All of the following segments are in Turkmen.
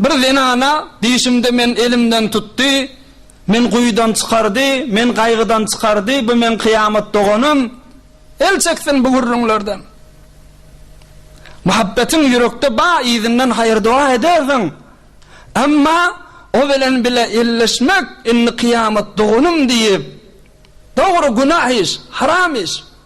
Bir zenana dişimde men elimden tutdy, Men guýudan çykardy, men gaýgydan çykardy, Bu meň kyýamat doganym, el çeksin bu gürrüňlerden. Muhabbetiň ýürekde ba yzyndan haýyr-doga edersiň, Emma o bilen bile elleşmek indi kyýamat doganym diýip, Dogry günah iş, haram iş,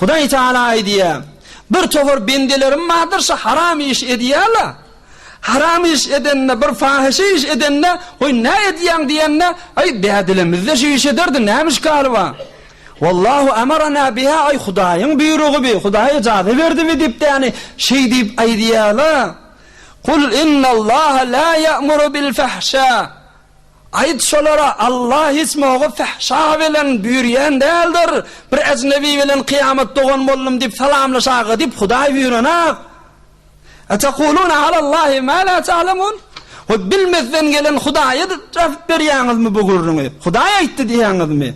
Hudaý Tagala aýdýar, Bir topar bendelerim bardyr, şu haram işi edýärler. Haram iş edende, bir fahyşa iş edende, Goý, näme edýäň diýende, Aý, bädilemizde şu işi ederdi, näme işgali bar? Wallahu amarana biha, Aý, Hudaýyň buýrugy bi, Hudaý yjaza berdi bi diýip, ýagny şeý diýip aýdýarlar. Kul innallaha la ýa'muru bil fahşa, Aýt şolara, Alla hiç moga fahşa bilen büýrýän däldir, bir ejnebi bilen kyýamat dogan boldum diýip salamlaşaga diýip Hudaý büýrenok. Etekuluna alallahi ma la ta'lemun? We bilmezden gelen Hudaýa däp berýäňizmi bu gürrüňi? Hudaý aýtdy diýýäňizmi?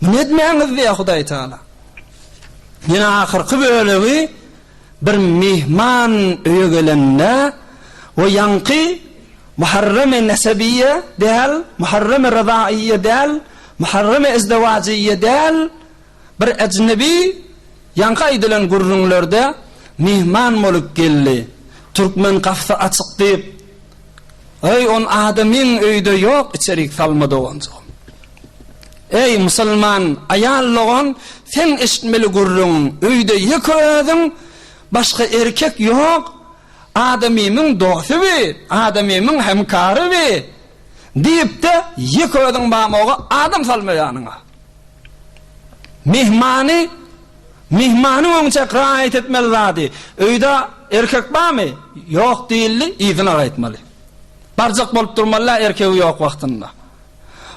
Muny etmäňiz diýýär Hudaý Taala. Ýene ahyrky bölegi Bir myhman öýe gelende, we ýaňky Muharrem-i nesebiýe däl, Muharrem-i ryzaýýe däl, Muharrem-i ezdewajyýe däl, bir ejnebi ýaňky aýdylan gürrüňlerde myhman bolup geldi. Türkmen gapysy açyk diýip, Eý, on adamyň öýde ýok, içerik salma doganjygym. Eý, musulman aýal dogan, seň eşitmeli gürrüňiň, öýde ýeke özüň, başga erkek ýok, adamymyň dosty bi, adamymyň hemkary bi, diýip-de, ýeke özüň bamoga adam salma ýanyňa. Myhmany, myhmanyň öňçäk raýat etmeli zady, öýde erkek barmy, ýok diýildi, yzyna gaýtmaly. Barjak bolup durmaly-ä erkegi ýok wagtynda.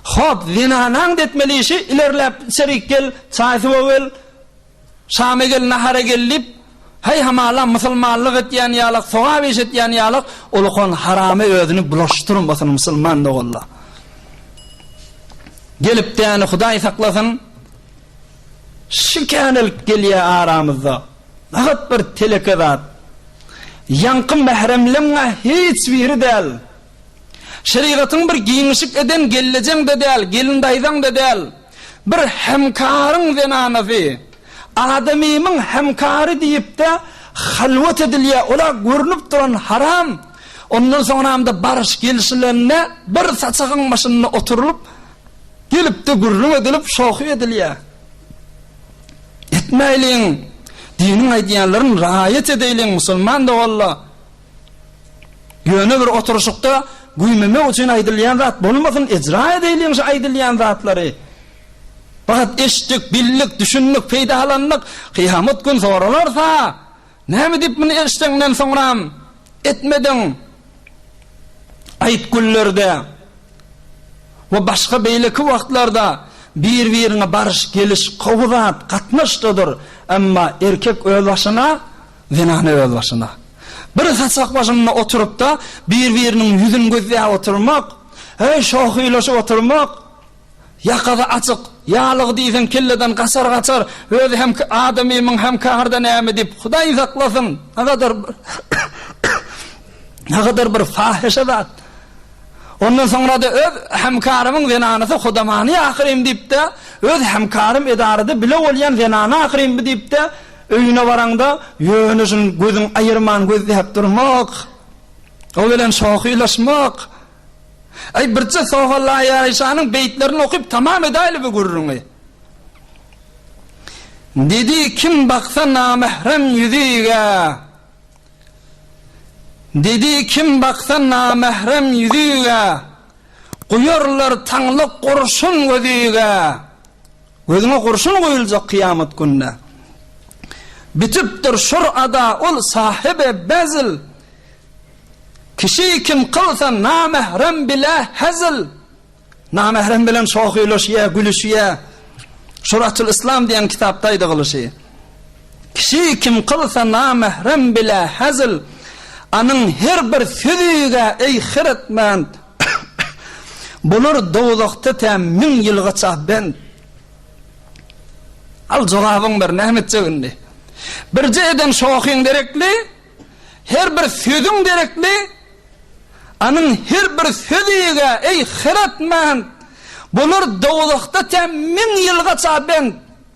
Hop, zenanaň depmeli işi, ilerläp, içerik gel, çaý-suwa gel, şama gel, nahara gel diýip, heý hamala, musulmanlyk etýän ýalak, sogap iş etýän ýalak, ulkan haramy özüni bulaşdyrmasyn musulman doganlar. Gelip däni Hudaý saklasyn. Şikänelik gelýär aramyzda. Nahat bir teleke zat. Ýaňky mähremleň-ä hiç biri däl. Şerigatyň bir giňişik eden gelnejeň-de däl, gelin daýzaň-da däl, bir hemkaryň zenanasy, adamymyň hemkary diýip-de halwat edilýär, ol-a görnüp duran haram. Ondan soňramda baryş gelşilende bir saçagyň başynda oturylyp, gelip-de gürrüň edilip, şohgy edilýär. Etmäýliň, diniň aýdýanlaryn raýat edeýliň, musulman doganlar! Ýöne bir oturyşykda güýmemek üçin aýdylýan zat bolmasyn, ejra edeliň şu aýdylýan zatlary. Fakat eşitdik, bildik, düşündik, peýdalandyk, kyýamat gün soralarsa, näme diýip muny eşdeňden soňram etmediň? Aýtgüllerde we başga beýleki wagtlarda bir-biriňe baryş, geliş gowy zat, gatnaşdadyr, emma erkek öz başyna, Zenany özbaşyna, bir saçak başynda oturyp-da, bir-biriniň ýüzüni gözläp oturmak, heý, şowhuýlaşyp oturmak, ýakasy açyk, ýalygy diýseň kelleden gaçar-gaçar, özi hem adamymyň hem kärde näme diýip, Hudaý saklasyn, nähadar bir, nähadar bir fahyşa zat. Ondan soňra-da öz hemkarymyň zenanysy hudamany ahyryn diýip-de, öz hemkarym edarada bile bolýan zenany ahyryn bu diýip-de, Öýüne baraňda, ýöneşin gözüň aýyrman gözläp durmak, o bilen şohylaşmak. Aý, birje Sohalaýaryşanyň beýtlerini okyp tamam edäýli bu gürrüňi. Dedi, Kim baksa namährem ýüzüge, Dedi, Kim baksa namährem ýüzüge, Guýarlar taňlyk gurşun gözüge. Gözüňe gurşun goýuljak kyýamat günde. Bitipdir şur ada ol sahyby bezil. Kişi kim kylsa namährem bile hezil. Namährem bilen şohylaşýa, gülüşýä. Şuratül Islam diýen kitapda aýdygylyşy. Kişi kim kylsa namährem bile hezil. Anyň her bir sözi-gä eý hyretmend. Bular dowzahda tä müň ýylgaça bent. Al jogabyň bir, näme etjek indi? Birje eden şohyň derekli, her bir sözüň derekli, anyň her bir söziga, eý, hyratmand, bular dowzahda tä müň ýylgaça bent.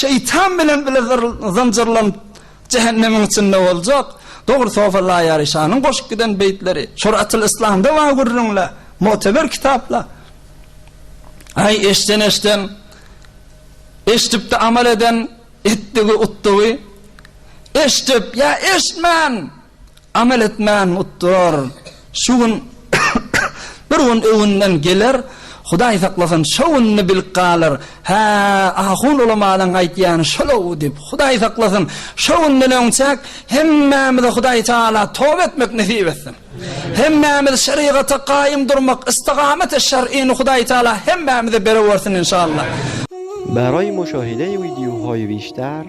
Şeýtan bilen bile zynjyrlanyp jähennemiň içinde boljak. Dogry Sofa Laýary şanyň goşup giden beýtleri Şuratyl Islamda bar gürrüňle moteber kitapla. Aý eşden eşden eşdipdi amal eden etdigi utdugy eşdip ýa eşdmän. Amel etmän utdur. Şu gün bir gün öwünden geler, Hudaý saklasyn, şo gününi bilip galar, Hä, ahun ulamanyň aýtýany şol-ow diýip. Hudaý saklasyn, şo günden öňçäk hemmämize Hudaý Taala toba etmek nesip etsin. Hemmämiz şerigata gaýym durmak, istigameti şer'ini Hudaý Taala hemmämize berewersin inşallah. Baraý muşahide-i widýu hoýwiş-där.